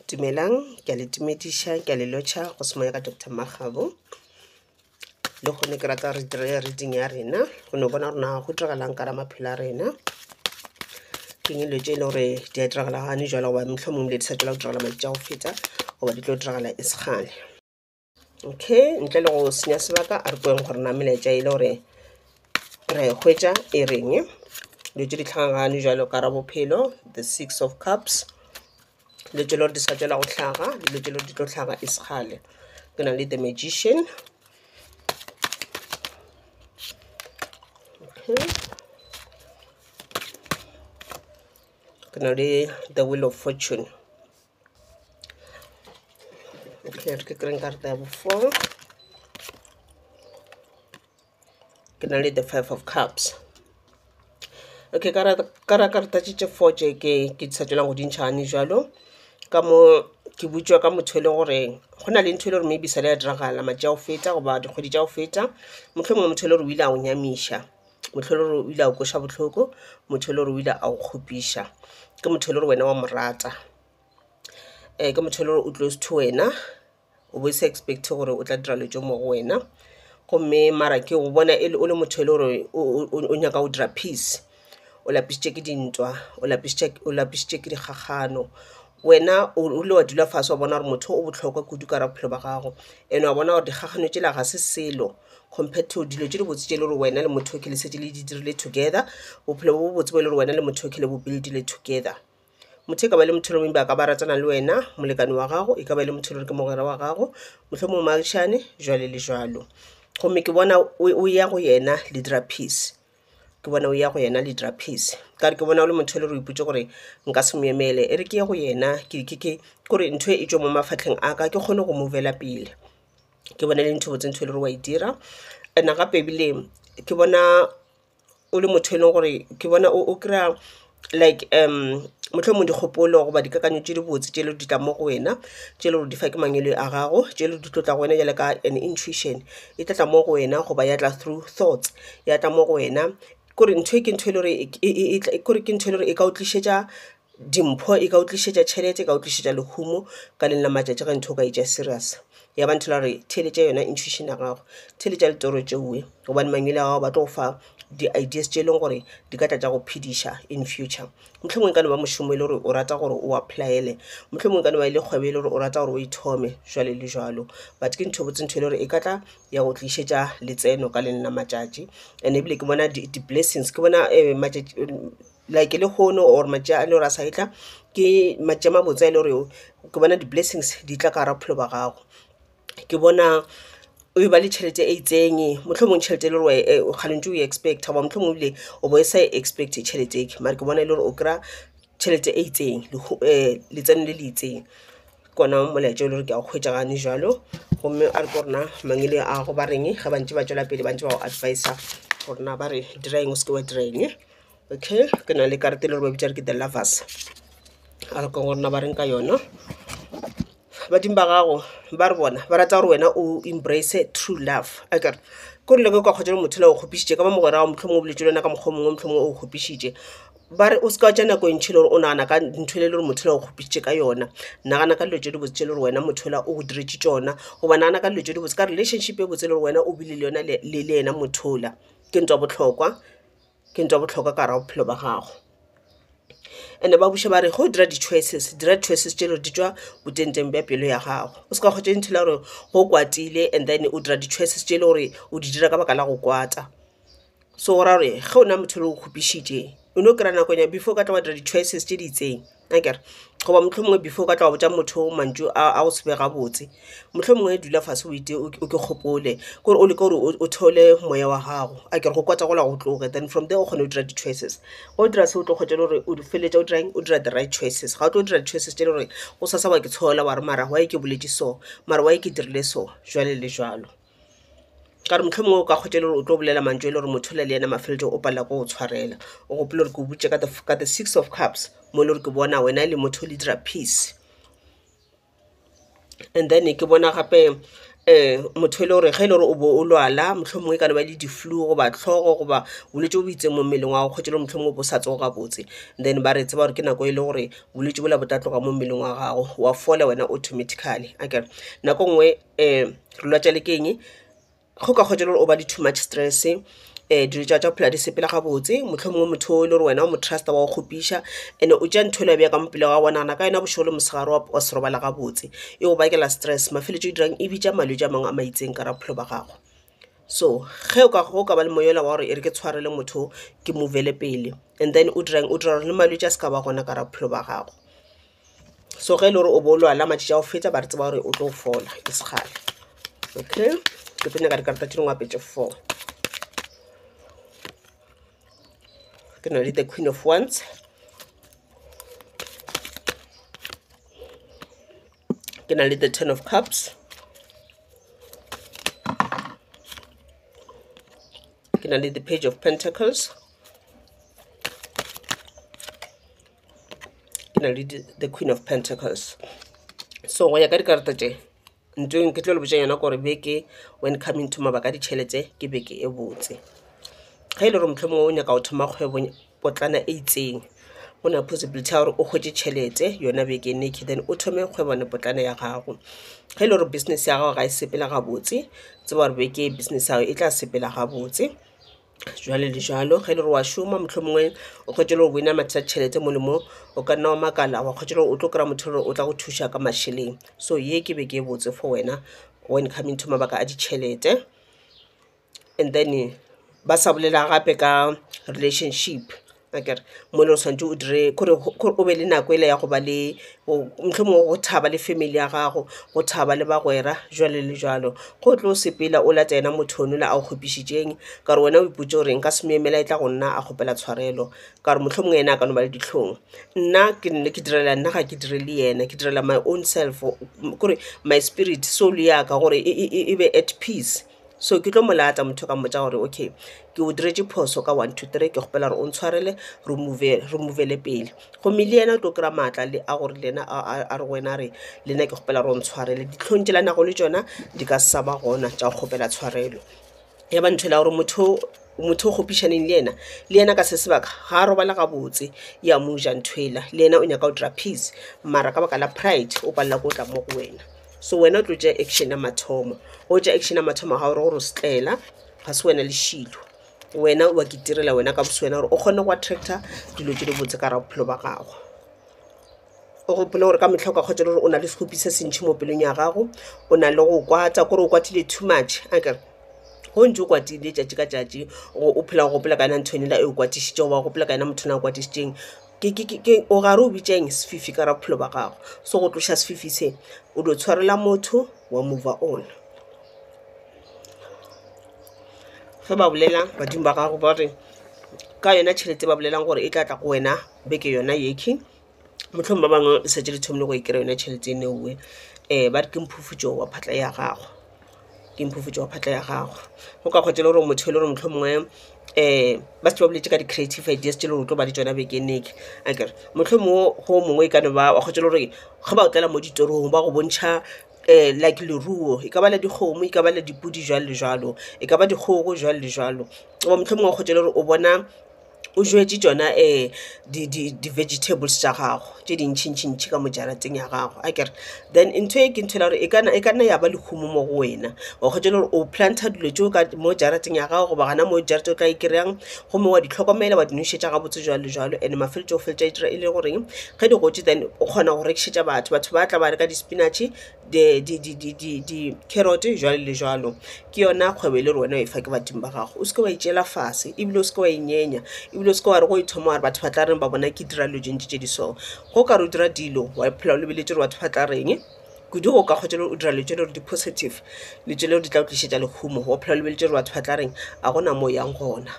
dumelang ke a le tumediša ke a le lotšha go semoya ka dr makgabo le kgone ke rata re dire reading ya rena go no bona rona go diragalang ka ra maphelo a rena ke dilo tse e le gore di a diragala gane jalo goba metlho mongwe le di sa tswela go diragala madi tša go feta goba di tlo diragala e sekgale okay ntle le go senya sebaka a re kweng gore na melaetša e le gore re hwetša e reng dilo tse di tlhagagane jalo ka ra bophelo the six of cups dilo tše lore di sa tšwela go tlhaga dilo tše lore di tlo tlhaga e sekgale ke na le the magician okay. ke na le the will of fortune okay re ke kry-eng karata ya bofoo ke na le the five of cups okay ka ra ka ra karata tše tše four tše ke ke sa tšwela go di ntšha gane bjalo ka mo ke botšiwa ka motho e le gore go na le ntho e le gore maybe sa le ya diragala matša go feta goba dikgwedi tša go feta mohlomongwe motho e le gore o ile a go nyamiša motho e le gore o ile a go kweša bohloko motho e le gore o ile a go kgopiša ke motho e le gore wena wa mo rata um ke motho e le gore o close to wena o bo se expect gore o tla dira dilo tše mo go wena gomme mara ke go bona e le o le motho e le gore o nyaka go dira peace o lapisitše ke dintwa o lapisitše o lapisitše ke dikgakgano wena o ile wa dula fase wa bona gore motho o bohlokwa kudu ka gare ga bophelo ba gago and wa bona gore dikgakgano tšela ga se selo compared to dilo tše dibotse tše e le gore wena le motho yokhwi le šetše le di dirile together bophelo bo botse bo e le gore wena le motho yokhwi le bo build-ile together. Motho e ka ba le motho yo mongwe ba ka ba ratana le wena, molekane wa gago, e ka ba e le motho e le gore ke mogwera wa gago, mohlomongwe moagišane, jwalo le jwalo. Gomme ke bona o, o ya go yena le dira peace, ke bona o ya go yena le dira peace. Ka gore ke bona o le motho e le gore o ipotše gore nka se mo emele, e re ke ye go yena ke, ke, ke gore ntho e e tšwe mo mafahleng a ka ke kgone go move-la pele. Ke bona e le ntho e botse ntho e le gore wa e dira and-e gape ebile ke bona. o le motho eleng gore ke bona o kry-a like mohlomong dikgopolo goba dikakanyo tše dibotse tše di tlang mo go wena tše e le gore di fa ke mangwele a gago tše di tlo tla go wena bjale ka an intuition e tla tla mo go wena goba ya tla through thoughts ya tla mo go wena kore ntho e ke ntho e le gore e ka o tlišetša Dimpho e ka utlišetša tšhelete e ka utlišetša lehumo ka lengwe la matšatši ge ntho o ka e tšea serious ya ba ntho la gore theeletša yona intuition ya gago theeletša ditoro tšeoe gobane mangwele a gago ba tlo go fa di ideas tše e leng gore di ka tla tša go phediša in future. Mohlomongwe e ka no ba mošomo e le gore o rata gore o apply-ele mohlomongwe e ka no ba e le kgwebo e le gore o rata gore o e thome jwalo le jwalo but ke ntho botse ntho e le gore e ka tla ya go tlišetša letseno ka lengwe la matšatši and ebile ke bona di di blessings ke bona matšatši like lehono or matša a lore a sa etla ke matša a mabotse a e le gore ke bona di blessings di tla ka gare ga bophelo ba gago. Ke bona o e ba le tšhelete e itseng mohlomong tšhelete e le gore o kgale o ntse o e expect-a goba mohlomong ebile o bo o sa e expect-e tšhelete e, mare ke bona e le gore o kry-a tšhelete e itseng letseno le le itseng. Ke ona molaetša o le gore ke a o hwetša gane jwalo gomme a re ko rena mangwele a gago ba reng ge ba ntše ba tšwela pele ba ntše ba go advise-a gore na ba re dira eng o se ke wa dira eng. okay ke na le karete le gore ba bitsa re ke the lovers a re ka gore na ba reng ka yona badimo ba gago ba re bona ba rata gore wena o embrace true love a kere ko rile ke kwa kgotsa le motho le o kgopišitše ka ba mogwera wa motlho mongwe o boletse le wena ka mokgwa mongwe motlho mongwe o kgopišitše ba re o se ka tša nako e ntšhi le gore o nagana ka ntho e le gore motho le o kgopišitše ka yona nagana ka dilo tse di botse tse le gore wena motho la o go diretše tsona goba nagana ka dilo tse di botse ka relationship e botse le gore wena o bile le yona le le yena mothola ke ntwa botlhokwa ke ntho ya bohlokwa ka gare ga bophelo ba gago. And-e ba buša ba re ge o dira di-choices, dira di-choices tše e le gore di tšwa botengteng bja pelo ya gago. O se ka kgwetša into e le ya gore ge o kwatile and then o dira di-choices tše e le gore o di dira ka baka la go kwata. So go ra gore ge o na le motho e le gore o kgopišitše o no kry-a nakonyana before o ka tla wa dira di-choices tše di itseng. akere goba mohlomongwe before o ka tla wa botša motho mantšu a go se be gabotse mohlomongwe dula fase o ite o ke gopole kore o leke gore o theole moya wa gago akere go kwata gola go tloge then from there o kgone go dira di-choices ga o dira se o tlo kgwetša e le gore o feleletša o dirang o dira the right choices ga o tlo dira di-choices tše e le goreng o sa sa wa ke tshola wa re mara why ke boletše so mara why ke dirile so jwalo le jwalo. ka re mohlomongwe o ka kgotša le gore o tlo bolela mantšu e le gore motho o na le yena mafelelo o palela ko go tshwarela o gopole gore ke o botše ka the, ka the six of cups mo e le gore ke bona wena e le motho o le dira peace and then ke bona gape um motho e le gore ge e le gore o bo o lwala mohlomongwe e ka no ba le di-flu goba tlhogo goba bolwetse bo bo itseng mo mmeleng wa go kgotše le gore mohlomongwe o bo o sa tsoge gabotse then ba re tseba gore ke nako e le gore bolwetse bola bo tla tloga mo mmeleng wa gago wa fola wena automatically akere nako nngwe Rulwatšale ke eng? Go ka kgotšwa e le gore o ba le too much stress, dilo tša gagwe tša go phela di sepela gabotse, mohlomongwe motho o e le gore wena o mo trust-a wa go kgopiša and-e o tšea ntho yela o e beya ka mo pele ga gagwe, o nagana ka yona bošego le mosegare wa wa se robala gabotse. E go bakela stress, mafelelong e dirang e bitša malwetši a mangwe a ma itseng ka gare ga bophelo ba gago. So ge o ka go ka ba le moya ola wa gore e re ke tshwarele motho o, ke move-ele pele and then o dirang? O dira gore le malwetši a se ka ba gona ka gare ga bophelo ba gago. so ge e le gore o bo o lwala matšatši a go feta ba re tseba gore o tlo fola e se kgale okay ke tlo nyaka dikarata tše dingwe apetše four ke na le the queen of ones ke na le the ten of cups ke na le the page of pentacles e na le the queen of pentacles so go ya ka dikarata tše ntho e ke tlo le botša yona gore beke when coming to mabaka a ditšhelete ke beke e botse ge e le gore mohlomongwe o nyaka go thoma kgwebo potlana e itseng go na possibility ya gore o kgwetše tšhelete yona beke neke then o thome kgwebone potlana ya gago ge e le gore business ya gago ga e sepela gabotse tseba gore beke business ya gago e tla sepela gabotse jwale le jalo ge le re wa šoma mohlomongwe o kgwetše le go bina mathata tšhelete mo le mo o ka nna wa makala wa kgwetše le gore o tlo kry-a motho gore o tla go thuša ka mašeleng so ye ke be ke e botse for wena when coming to mabaka a ditšhelete and then ba sa bolela gape ka relationship Akere mole o swanetše o dire kore kore o be le nako e le ya go ba le bo mohlomongwe go thaba le family ya gago, go thaba le bagwera jwalo le jwalo. Ge o tlo sepela o lata yena motho ono la a go kgopišitšeng ka gore wena o ipotše gore nka se mo emela e tla go nna a kgopela tshwarelo ka gore mohlomongwe yena a ka no ba le dihlong. Nna ke nne ke direla nna ga ke direle yena ke direla my own self kore my spirit soul ya ka gore e be at peace. so ke tlo mo lata motho o ka mmotša gore okay ke o diretše phoso ka one two three ke kgopela gore o ntshwarele re move-le pele gomme le yena o tlo kry-a maatla a gore le yena a re go wena a re le nna ke kgopela gore o ntshwarele dihlong tšela a nago le tšona di ka se sa ba gona tša go kgopela tshwarelo ya ba ntho e le ya gore motho motho o kgopišaneng le yena le yena ka se sebaka ga a robala gabotse e a mo ja ntho ela le yena o nyaka go dira peace mara ka baka la pride o palela ke go tla mo go wena so wena o tlo tšea action ya mathomo o tšea action ya mathomo ga gore gore o setlaela ga se wena lešilo wena wa ke tirela wena ka boswena gore o kgone go attracta dilo tse di botse ka ra bophelo ba gago o gopole gore ka metlha o ka kgotsa gore o na le segopi se sentšhi mo pelong ya gago o na le go kwata kore o kwatile too much a kere go ntse o kwatile tšatši ka tšatši o phela go gopola ka yona nthwenela e o kwatišitšego wa gopola ka yona motho na o kwatišitšeng o gare o bitšeng sefifi ka ra bophelo ba gago so go tloša sefifi se o dio tshwarela motho wa mova on ge ba bolela badimo ba gago ba re ka yona tšhelete ba bolelang gore e tla tla go wena beke yona yekhi motlhong ba bangwe le setse le thomile go e kry-a yone tšhelete e neowe um ba re ke mphufutšo wa phatla ya gago ke mphufutšo wa phatla ya gago go ka kgotha e le gore motho e le gore mohlomongwe um ba šetše ba boletše ka di-creative ideas tše e le gore o tlo ba le tšona bekeng e tla akere mohlomongwe go mongwe e ka no ba wa kgotha e le gore ge ba otlela mo ditorong ba go bontšha um like leruo e ka ba la dikgomo e ka ba la dipudi jwalo le jwalo e ka ba dikgogo jwalo le jwalo goba mohlomongwe wa kgotha e le gore o bona o jetse tšona um di di di-vegetables tša gago tše di ntšhi ntšhi ntšhi ka mo jarateng ya gago akere. Then ntho e ke ntho e le ya gore e kana e kanna ya ba lehumo mo go wena wa kgotsa e le gore o planter dilo tšeo ka mo jarateng ya gago goba gona mo jarete o tla e kry-ang gomme wa di tlhokomela wa di nošetša gabotse jwalo le jwalo and mafelelong o feleletša e dira e le goreng ge di gotše then o kgona go rekišetša batho, batho ba tla ba reka di-spinach-e. di-carrot jwalo le jwalo ke yona kgwebo e le gore wena o e fa ke badimo ba gago o seke wa e tšeela fase ebile o seke wa e nyenya ebile o seke wa re go e thoma wa re batho ba tla reng ba bona ke dira dilo tše ntši tše di so ge o ka re o dira dilo wa phela o lebeletše gore batho ba tla reng kudu ge o ka kgwetša le gore o dira dilo tše e le gore di positive dilo tše e le gore di tla go tlišetša lehumo wa phela o lebeletše gore batho ba tla reng ga gona mo o yang gona.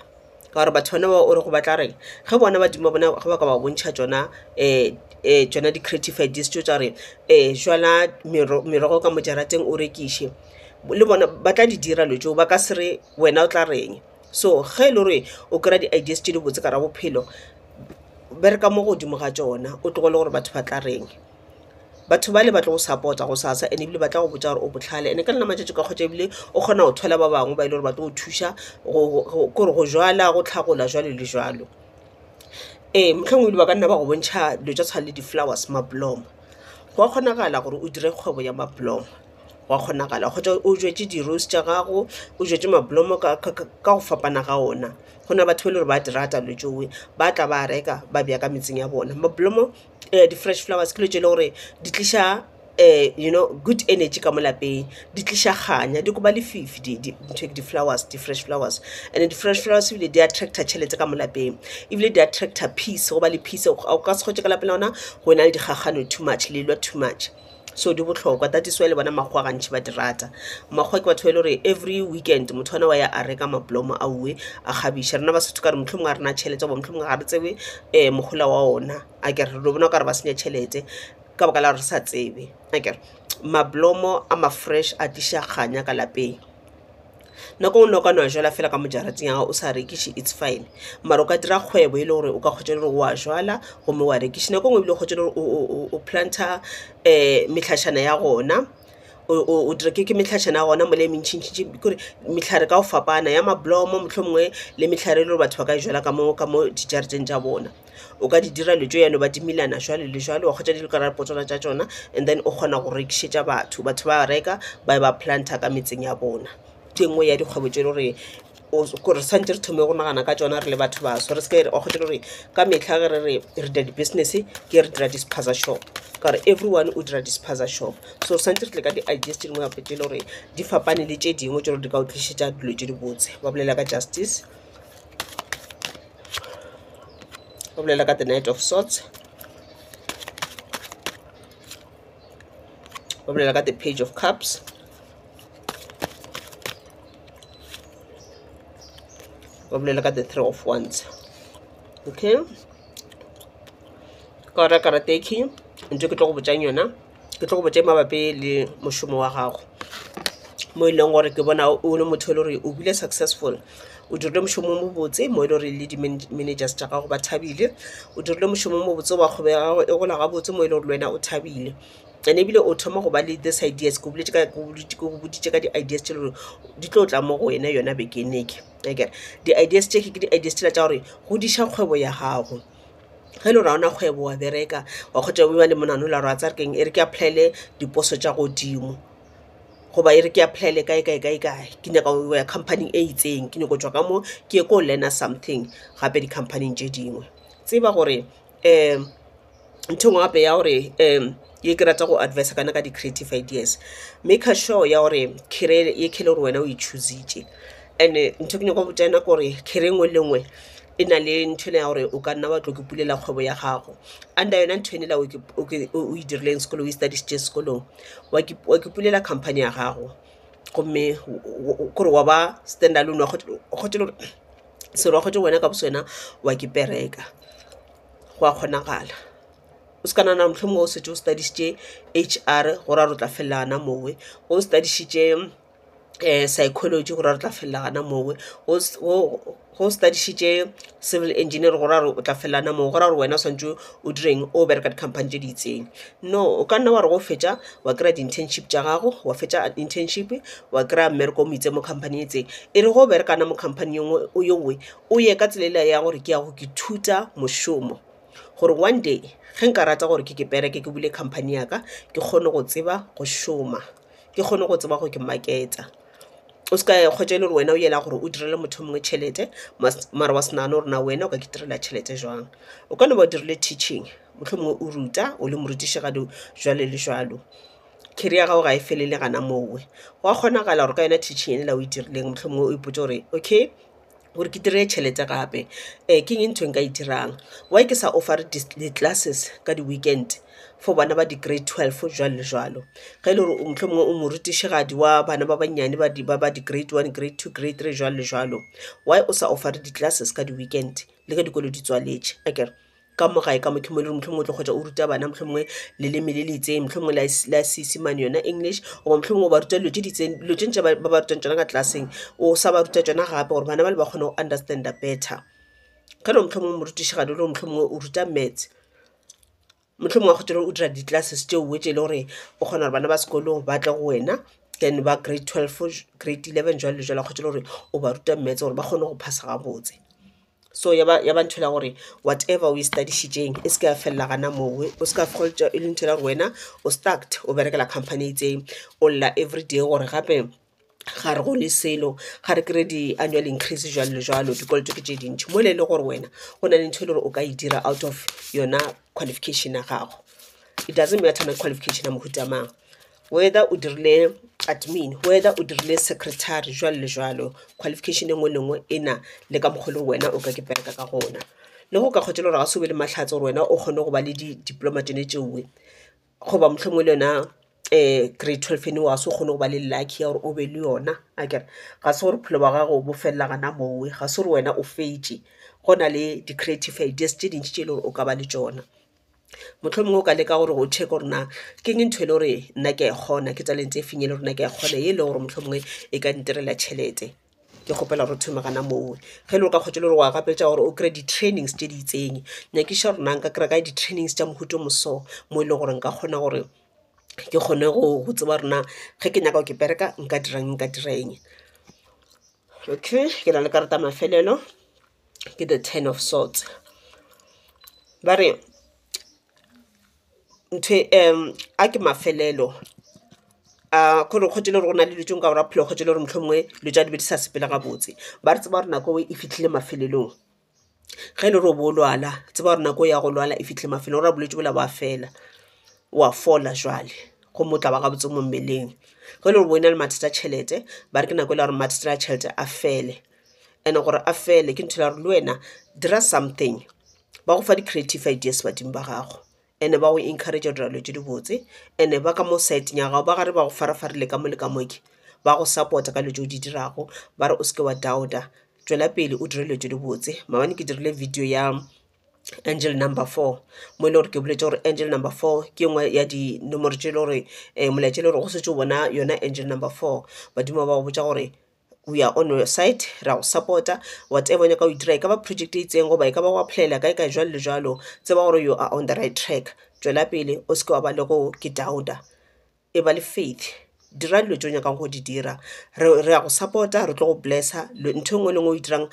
ka gore batho bana bao o re go ba tla reng ge bona badimo ba bona ge ba ka ba bontšha tšona um um tšona di-creative ideas tšo tša gore um jala merogo ka mo jarateng o rekiše le bona ba tla di dira dilo tšeo ba ka se re wena o tla reng so ge e le gore o kry-a di-ideas tše dibotse ka ga bophelo bereka mo godimo ga tšona o tlogele gore batho ba tla reng. batho bale ba tlo go support-a gosasa and ebile ba tla go botša gore o bohlale and ka nna matšatši o ka hwetša ebile o kgona go thola ba bangwe ba e le gore ba tlo go thuša kore go jala go hlagola jwalo le jwalo. Ee mohlomongwe ebile ba ka nna ba go bontšha dilo tša tshwana le di-flowers mablomo gwa kgonagala gore o dire kgwebo ya mablomo gwa kgonagala kgotsa o jetse di-rose tša gago o jetse mablomo ka go fapana ga ona go na le batho ba e le gore ba di rata dilo tšeo ba tla ba reka ba beya ka metseng ya bona mablomo. um di-fresh flowers ke dilo tše e le gore di tliša um you know good energy ka mo lapeng, di tliša kganya, di koba lefifi di-flowers, di-fresh flowers and-e di-fresh flowers ebile di attractor tšhelete ka mo lapeng ebile di attractor peace go ba le peace, o ka se hwetše ka lapeng la lona go e na le dikgakgano too much, le lwa too much. so di bohlokwa that is why le bona makgowa gantši ba di rata makgowa ke batho ba e le gore every weekend motho ona wa ya a reka mablomo a uwe a kgabiša rena basotho ka re mohlomongwe a rena tšhelete goba mohlomongwe ga re tsebe um mogola wa ona a kere re bona o ka re ba senya tšhelete ka baka la gore re sa tsebe a kere mablomo a ma-fresh a tliša kganya ka lapeng Nako ngwe noka nwa jwala fela ka mo jarating ya gago o sa rekiše it's fine. Mara o ka dira kgwebo e le gore o ka kgwetša gore wa jwala gomme wa rekiše. Nako ngwe ebile o kgwetša gore o planter mehlašana ya gona o dira ke mehlašana ya gona mola e mentši ntši ntši kore mehlare ka go fapana ya mablomo mohlomongwe le mehlare e le gore batho ba ka e jwala ka mo ka mo dijareteng tša bona. o ka di dira dilo tše yalo ba timilana jwale le jwale wa kgwetša di le ka gare ga potswana tša tšona and then o kgona go rekišetša batho batho ba reka ba ba planta ka metseng ya bona ke nngwe ya dikgwebo tše e le gore gore santse re thome go nagana ka tsona re le batho baso re seke wa kgwetša gore ka metlha ge re re re dira di-business ke re dira di-spaza shop ka gore everyone o dira di-spaza shop so santse re tle ka di-ideas tše dingwe gape tše e le gore di fapane le tše dingwe tše gore di ka o tlišetša dilo tše dibotse ba bolela ka justice go bolela ka the night of sorts go bolela ka the page of cups go bolela ka the three of wands okay ka ora karate e key ntho ke tlo go botsang yona ke tlo go botse mabapi le mošomo wa gago mo e leng gore ke bona o le motho e le gore o bile successful o dirile mošomo o mobotse mo e le gore le di-managers tša gago ba thabile o dirile mošomo o mobotse wa kgwebo ya gago e gola gabotse mo e leng gore le wena o thabile and ebile o thoma go ba le this ideas ke boditše ka di-ideas tše lore di tlo tla mo go wena yona bekeneke akere di-ideas tše ke di-ideas tšela tša gore godiša kgwebo ya gago ge e le gore ga o na kgwebo wa bereka wa kgotha o ba le monagano o lla gore wa tsaya keng e re ke apply-ele diposo tša godimo goba e re ke apply-ele kae kae kae kae ke nyaka go ya company-ing e itseng ke nyaka go tšwa ka mo ke ye ko learn-a something gape di-company-ing tše dingwe tseba gore um ntho e nngwe gape ya gore um ye ke rata go adviser ka yona ka di-creative ideas make sure ya gore career e le gore wena o e choose-itše and-e ntho e ke nyaka go botša yona ke gore career e nngwe le e nngwe e na le nthwena ya gore o ka nna wa tlo ke pulela kgwebo ya gago under yona ntho ene la o e dirileng sekolo o e studisitše sekolong wa ke pulela company ya gago gomme kore wa ba stand alone selo wa kgwetše wena ka boswena wa ke pereka go a kgonagala o se ka nagana gore mohlomongwe o setse o studisitše H_R go ra gore o tla felela gona mowe o studisitše um psychology go ra re tla felela gana moo go study-šitše civil engineering go ra re o tla felela gana moo go ra gore wena o swanetše o direng o go bereka di-company tše di itseng no o ka nna wa re ge o fetša wa kry-a di-internship tša gago wa fetša internship wa kry-a mmereko o mo itseng mo company e itseng e re ge o bereka gana mo company ye nngwe yo nngwe o ye ka tsela yela ya gore ke ya go ke ithuta mošomo gore one day ge nka rata gore ke ke bereke ke bule company ya ka ke kgone go tseba go šoma. ke kgone go tseba gore ke market-a. O seka ya kgwetša e le gore wena o yela gore o direle motho yo mongwe tšhelete mare wa se nagane gore na wena o ka itirela tšhelete jwang. O ka no ba o dirile teaching mohlomongwe o ruta o le morutišigadi jwalo le jwalo. Career ya gago ga e felele gona moo. Gwa kgonagala gore ka yona teaching yela o e dirileng mohlomongwe o ipotše gore okay gore ke dire tšhelete gape um ke eng e nka e dirang why ke sa offer-re di classes ka di weekend for bana ba di grade twelve jwalo le jwalo ge e le gore mohlomongwe o morutišigadi wa bana ba bannyane ba di ba ba di grade one grade two grade three jwalo le jwalo why o sa offer-re di classes ka di weekend le ge dikolo di tswaletše akere. ka mo gae ka mo ke mo e le gore mohlomongwe o tlo kgotsa o ruta bana mohlomongwe leleme le le itseng mohlomongwe la s- la seesemane yona english goba mohlomongwe o ba ruta dilo tse di itseng dilo tse ntše ba ba ba rutang tsona ka tlelaseng o sa ba ruta tsona gape gore bana bale ba kgone go understand-a better ge le mohlomongwe morutišigadi o le gore mohlomongwe o ruta maths mohlomongwe wa kgotsa le gore o dira di-classes tše oe tše e le gore o kgona gore bana ba sekolong ba tle go wena then ba grade twelve grade eleven jwalo le jwalo wa kgotsa le gore o ba ruta maths gore ba kgone go phasa gabotse. so ya ba ya ba ntho e le ya gore whatever o e study-šitšeng e se ke ya felela gana moo o se ka feleletša e le ntho e le ya gore wena o stucked o berekela company e itseng o lla everyday gore gape ga re go le selo ga re kry-e di-annual increase jwalo le jwalo dikoloto ke tše dintšhi mola e le gore wena go na le ntho e le gore o ka e dira out of yona qualification ya gago it doesn't matter na qualification ya mohuta mang. whether o dirile admin whether o dirile secretary jwalo le jwalo qualification e nngwe le nngwe e na le ka mokgwa le wena o ka ke bereka ka gona le go ka kgotsa le gore ga se o be le mahlatse gore wena o kgone go ba le di-diploma tsone tšeoe goba mohlomongwe le yona um grade twelve ene wa se o kgone go ba le lucky ya gore o be le yona a kere ga se gore bophelo ba gago bo felela gana mowe ga se gore wena o fetše go na le di-creative ideas tše dintši tše e le gore o ka ba le tšona mohlomongwe o ka leka gore o check gore na ke eng ntho e le gore nna ke a e kgona ke talente e feng e le gore nna ke a e kgona e le gore mohlomongwe e ka ntirela tšhelete ke kgopela gore thome gana moo ge e le gore ka kgotse le gore wa gapetša gore o kry-e di-trainings tše di itseng nyakiša gore na nka kry-a kae di-trainings tša mohuta o moso mo e leng gore nka kgona gore ke kgone go tseba gore na ge ke nyaka go ke bereka nka dirang nka dira eng okay ke na le karata ya mafelelo ke the ten of swords ba re a ke mafelelo a k'ore go tšwelela gore go na le dilo tše dingwe ka gore ga phela go tšwelela gore mohlomongwe dilo tša di be di sa sepela gabotse ba re tseba gore nako e fihlile mafelelong ge e le gore o bo o lwala tseba gore nako ya go lwala e fihlile mafelelong go ra bolwetši bola bo a fela o a fola jwale gomme o tla ba gabotse mo mmeleng ge e le gore bo e na le mathata a tšhelete ba re ke nako e le ya gore mathata a tšhelete a fele and gore a fele ke ntho ya gore le wena dira something ba go fa di creative ideas badimo ba gago and ba go encourage go dira dilo tse di botse and ba ka mo sideng ya gago ba gare ba go farafarile ka mo le ka moke ba go support-a ka dilo tse o di dirago ba re o seke wa doubter tšwela pele o dire dilo tse di botse maabane ke dirile video ya angel number four mo e le gore ke boletse gore angel number four ke nngwe ya dinomoro tse e le gore um molaetša e le gore go setse o bona yona angel number four badimo ba go botsa gore we are on your side, ra go support-a whatever o nyaka go e dira, e ka ba project e itseng goba e ka ba go apply-ela kae kae jwalo le jwalo, tseba gore you are on the right track. Tšwela pele o se ke wa ba le go ke doubt-a, e ba le faith, dira dilo tše o nyakang go di dira. Re re ya go support-a, re tlo go bless-a, ntho e nngwe le e nngwe e o e dirang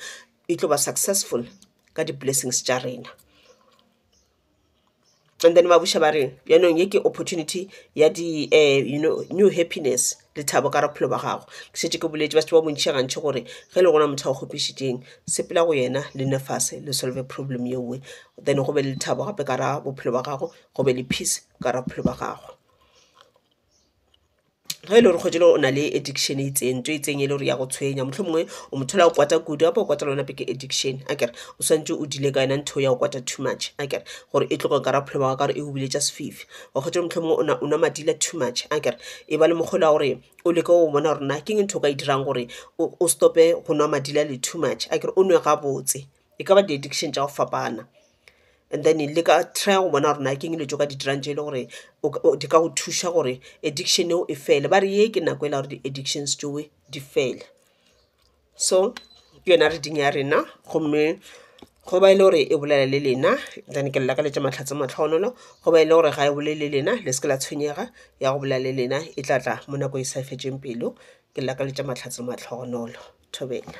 e tlo ba successful ka di-blessings tša rena. And then ba buša ba re yanong ye ke opportunity ya di um you know new happiness, lethabo ka gare ga bophelo ba gago. Ke šetše ke boletše batho ba bontši gantši gore ge e le gona motho a go kgopišitšeng, sepela go yena le nne fase le solve problem ye nngwe. Then go be le lethabo gape ka gare ga bophelo ba gago, go be le peace ka gare ga bophelo ba gago. ge e le gore kgwedi le o na le addiction e itseng ntho e itseng e le gore ya go tshwenya mohlomongwe o motho o la go kwata kudu gape o kwata le wena ke addiction akere o swantše o deal-e ka yona ntho ya go kwata too much akere gore e tloge okare bophelo bja gago ka gore e go biletša sefifi wa kgwetša gore mohlomongwe o na o nwa madila too much akere e ba le mokgwa o le wa gore o leke go bona gore na ke eng ntho e o ka e dirang gore o o stop-e go nwa madila le too much akere o nwe gabotse e ka ba di addiction tša go fapana and then le ka try go bona gore na ke eng dilo tše o ka di dirang tše e leng gore di ka go thuša gore addiction eo e fele ba re ye ke nako e la gore di addictions tšeo di fele so ke yona reading ya rena gomme go ba e le gore e bolela le lena then ke lelakaletša mahlatse matlhogonolo go ba e le gore ga e bolele le lena le se ke la tshwenyega ya go bolela le lena e tla tla mo nako e sa fetšeng pelo ke lelakaletša mahlatse matlhogonolo thobela